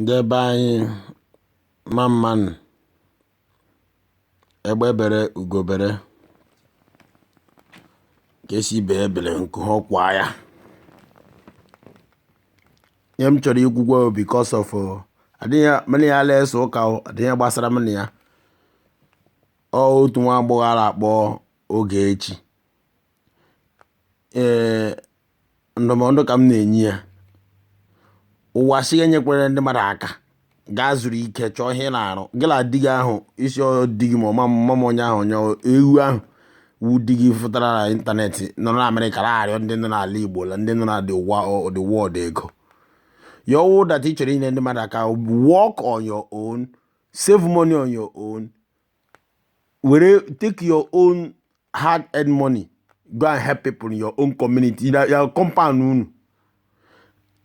Ndị be anyị mma mma nụ, egbe bere ugo bere, nke sị ibe ya ebela nku kwaa ya. Ihe m chọrọ ikwukwa bụ because of adịghị mụ na ya na-ese ụka o, adịghị ihe gbasara mụ na ya. Ọ otu nwa agbọghọ a na-akpọ Ogechi. ee ndụmọdụ ka m na-enye ya ụwa si enyekwere ndị mmadụ aka gaa zuru ike chọọ ihe ị na-arụ gị na di gị ahụ ị sị ọ di gị ma ọ ma mma m onye ahụ onye ewu ahụ wu di gị fụtara na ịntanetị nọ na amerịka na-arịọ ndị nọ n'ala igbo na ndị nọ na the wa- the world ego ya wụrụ that ị chọrọ inyere ndị mmadụ aka work on your own save money on your own were take your own hard earned money go and help people in your own community na ya compound unu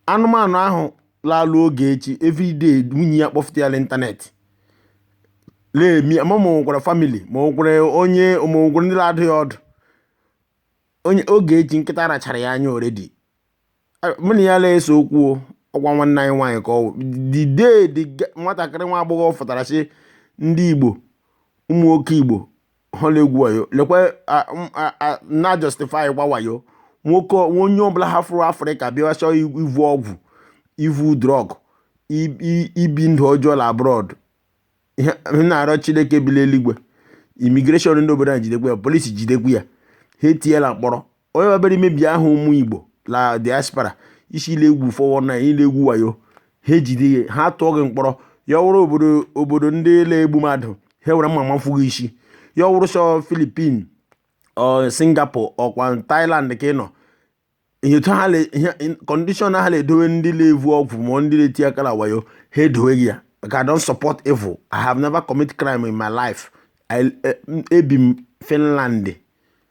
anụmanụ ahụ la-alụ Ogechi everyday nwunye ya kpọfụta ya n'ịntanetị na-emi ma ma nwekwara family ma nwekwara onye ma nwekwara ndị na-adụ ya ọdụ onye Ogechi nkịta rachara ya anya already mụ na ya na-ese okwu o, ọkwa nwanne anyị nwaanyị ka ọ wụ the day the ge- nwatakịrị nwa agbọghọ fụtara sị ndị igbo ụmụ nwoke igbo ha na-egwu wayo lekwa a- m- a- a- na justify kwa wayo nwoke ọ- onye ọbụla hafụrụ afrịka bịa chọọ i- ivu ọgwụ ivu drug i- i- ibi ndụ ọjọọ na abroad ihe m na-arịọ chineke bi n'eluigwe immigration ndị obodo a jidekwa ya police jidekwa ya ha etiela mkpọrọ onye mabere imebi aha ụmụ igbo na diaspora ị sị ị la-egwu 419 ị la-egwu wayo ha ejide gị ha tụọ gị mkpọrọ ya wụrụ obodo obodo ndị na-egbu mmadụ ha were mma mafu gị isi ya wụrụ sọ philippine ọ singapore ọkwa thailand ka ị nọ ihe otu ha le- ihe in- condition ha na-edowe ndị na-evu ọgwụ ma ndị na-eti aka na wayo ha edowe gị ya maka i don't support evil i have never commit crime in my life I- e- m- ebi m finland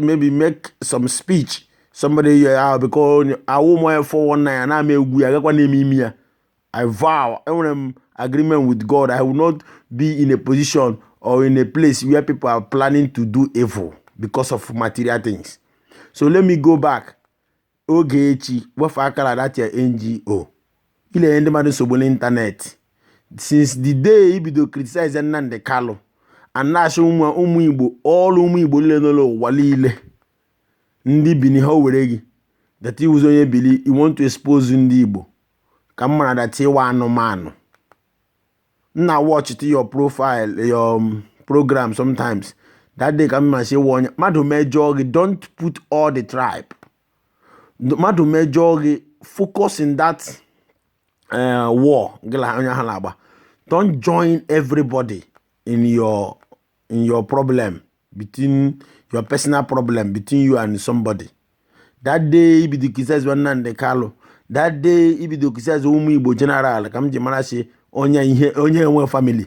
maybe make some speech somebody yọ ya because awụ m onye 419 ya na-ama egwu ya agakwa na-eme imi ya I vow enwere m agreement with God I will not be in a position or in a place where people are planning to do evil because of material things so let me go back Ogechi, wefụ aka la that your NGO, ị na-enye ndị mmadụ nsogbu n'ịntanetị since the day ị bido criticize Nnamdi Kanu and na-asị ụmụ ụmụ Igbo all ụmụ Igbo niile nọ n'ụwa niile ndị Bini ha were gị that ị wụzi onye Bini you want to expose ndị Igbo ka m mara that ị wụ anụmanụ m na watch tụ your profile your um, program sometimes that day ka m ma si wụ onye mmadụ mejọọ gị don't put all the tribe mmadụ mejọọ gị focus in that uh, war gị na onye ahụ na-agba don't join everybody in your in your problem between your personal problem between you and somebody that day i bido criticize Nnamdi Kanu that day i bido criticize ụmụ Igbo general ka m ji mara sị onye ihe onye enwe family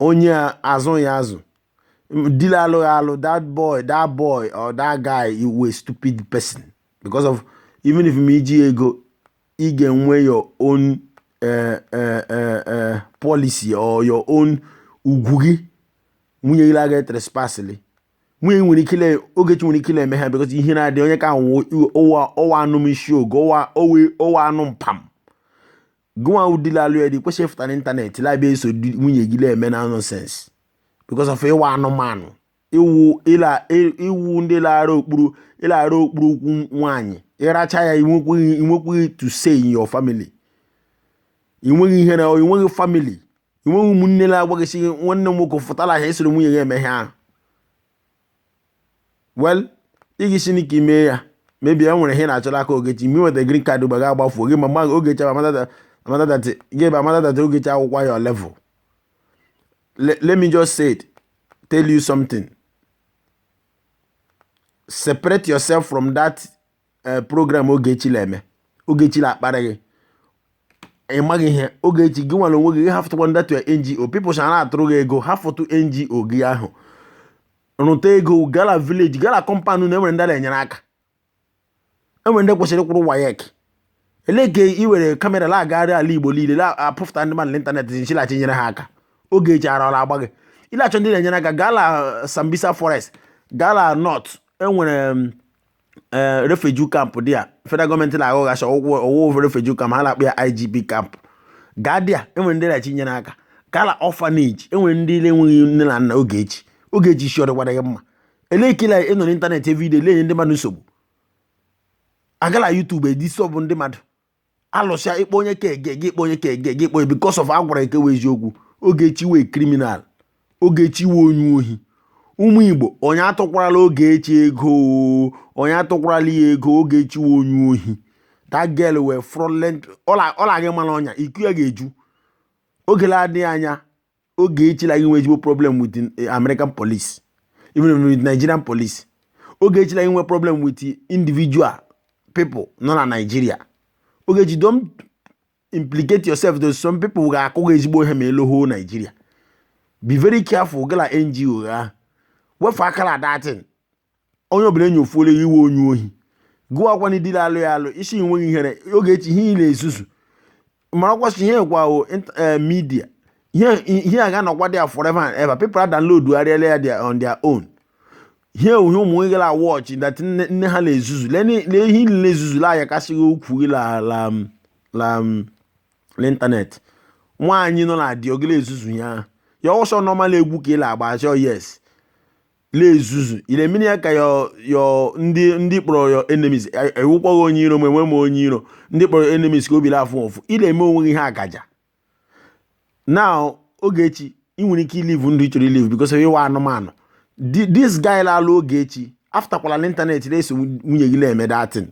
onye azụ ya azụ di la-alụ ya alụ that boy that boy or that guy ị wụ a stupid person because of even if ma i ji ego ị ga-enwe your own uh, uh, uh, uh, policy or your own ugwu gị nwunye gị la-aga trespassịlị nwunye gị nwere ike la Ogechi nwere ike la-eme ha because ihe na-adị onye ka ahụ ụwa ụwa anụ m isi oge ụwa owe ọ wụ anụ mpam gụnwa wụ di la-alụ ya di kwesịrị ịfụta n'ịntanetị la-abịa eso nwunye gị na-eme na nonsense because of ị wụ anụmanụ ịwụ ịla ị- ịwụ ndị la-ara okpuru ị la-ara okpuru ụkwụ nwaanyị ịracha ya inwekweghị inwekweghị to say in your family inweghị ihe na inweghị family inweghị ụmụnne na-agwa gị sị, nwanne m nwoke fụtara ha esoro nwunye ya eme ihe ahụ well ị gị si n'ike ime ya maybe e nwere ihe na-achọ l'aka ogechi mgbe nweta green card ụba ga-agbafuo gị ma mgbe ahụ ogechi amata that gị ebe amata that ogechi akwụkwọ your level let, let me just say it, tell you something. Separate yourself from that uh, program Ogechi na-eme. Ogechi na-akpara gị. Ị maghị ihe Ogechi gị nwere onwe gị hafụtụkwa that your NGO. Peoples ha na-atụrụ gị ego hafụtụ NGO gị ahụ. Rụta ego gaa la village gaa la compound unu enwere ndị na-enyere aka. enwere ndị kwesịrị ịkwụrụ WAEC elee ka i were kamera na-agagharị ala igbo niile na-apụfụta ndị mmadụ n'ịntanetị sị ị la-achọ inyere ha aka Ogechi ara ọ la-agba gị ị la-achọ ndị na-enyere aka gaa la sambisa forest gaa la north enwere ee refugee camp dị ya federal gọọmenti na-aghọghachi ọgwụgwọ ọwụwụ refugee camp ha na-akpọ ya IDP camp gaa there enwere ndị na-achọ inyere aka gaa la orphanage enwere ndị na-enweghị nne na nna Ogechi Ogechi isi ọ dịkwara gị mma elee ka ị nọ n'ịntanetị every day na-enye ndị mmadụ nsogbu aga la YouTube edisturb ndị mmadụ alụsịa ịkpọ onye ka ege gị ịkpọ onye ka ege gị ịkpọ onye because of agwara gị nke wụ eziokwu Ogechi wụ criminal Ogechi wụ onye ohi ụmụ Igbo onye atụkwarala Ogechi ego onye atụkwarala ya ego Ogechi wụ onye ohi that girl wụ fraudulent ọ la-aga ịmara ọnya iko ya ga-eju oge na-adịghị anya Ogechi la-aga inwe ezigbo problem with eh, American police even with Nigerian police Ogechi la-aga inwe problem with individual people nọ na Nigeria Ogechi don implicate yourself to some people ga-akụ gị ezigbo ihe ma ị lọọ Nigeria be very careful gaa la NGO a wefụ aka la that thing onye ọbụla enyofuola ya iwe onye ohi gụọ akwa na idile alụ ya alụ isi enweghị ihere Ogechi ihe ị na-ezuzu mara kwasị ihe kwa o int- eh, media ihe ihe a ga-anọkwa there forever and ever people are download arịala ya their- on their own ihe uhe ụmụ nwoke la watch that nne nne ha na-ezuzu lee ni- lee ihe niile ezuzula anya kasịghị ukwu gị la la m- la m- n'ịntanetị nwaanyị nọ na di ogele ezuzu ya ya ọsọ normal egwu ka ị la-agba achọ yes la-ezuzu ị na-emere ya ka ya ya ndị ndị kpọrọ ya enemies ewukwaghị onye iro ma enwe m onye iro ndị kpọrọ enemies ka obi la-afụ ụfụ ị la-eme onwe gị ihe akaja now Ogechi ị nwere ike ilive ndụ ị chọrọ ilive because ị wụ anụmanụ this guy la-alụ Ogechi afụtakwala n'ịntanetị na-eso nwunye gị na-eme that thing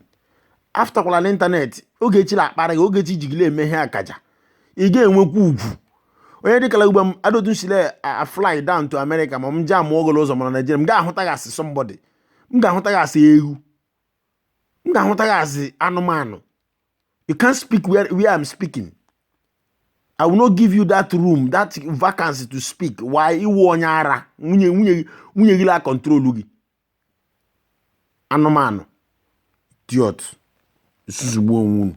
afụtakwala n'ịntanetị Ogechi la-akparị gị Ogechi ji gị na-eme ihe akaja ị ga-enwekwa ugwu onye dịkala ugbo m adotu sile afly down to America ma m jee amụọ ogolo ụzọ mana Naijiria m ga-ahụta gị as somebody m ga-ahụta gị as ewu m ga-ahụta gị as anụmanụ you can't speak where, where I'm speaking I will not give you that room that vacancy to speak why ị wụ onye ara nwunye nwunye nwunye gị la control gị anụmanụ idiot zuzugbuo onwe unu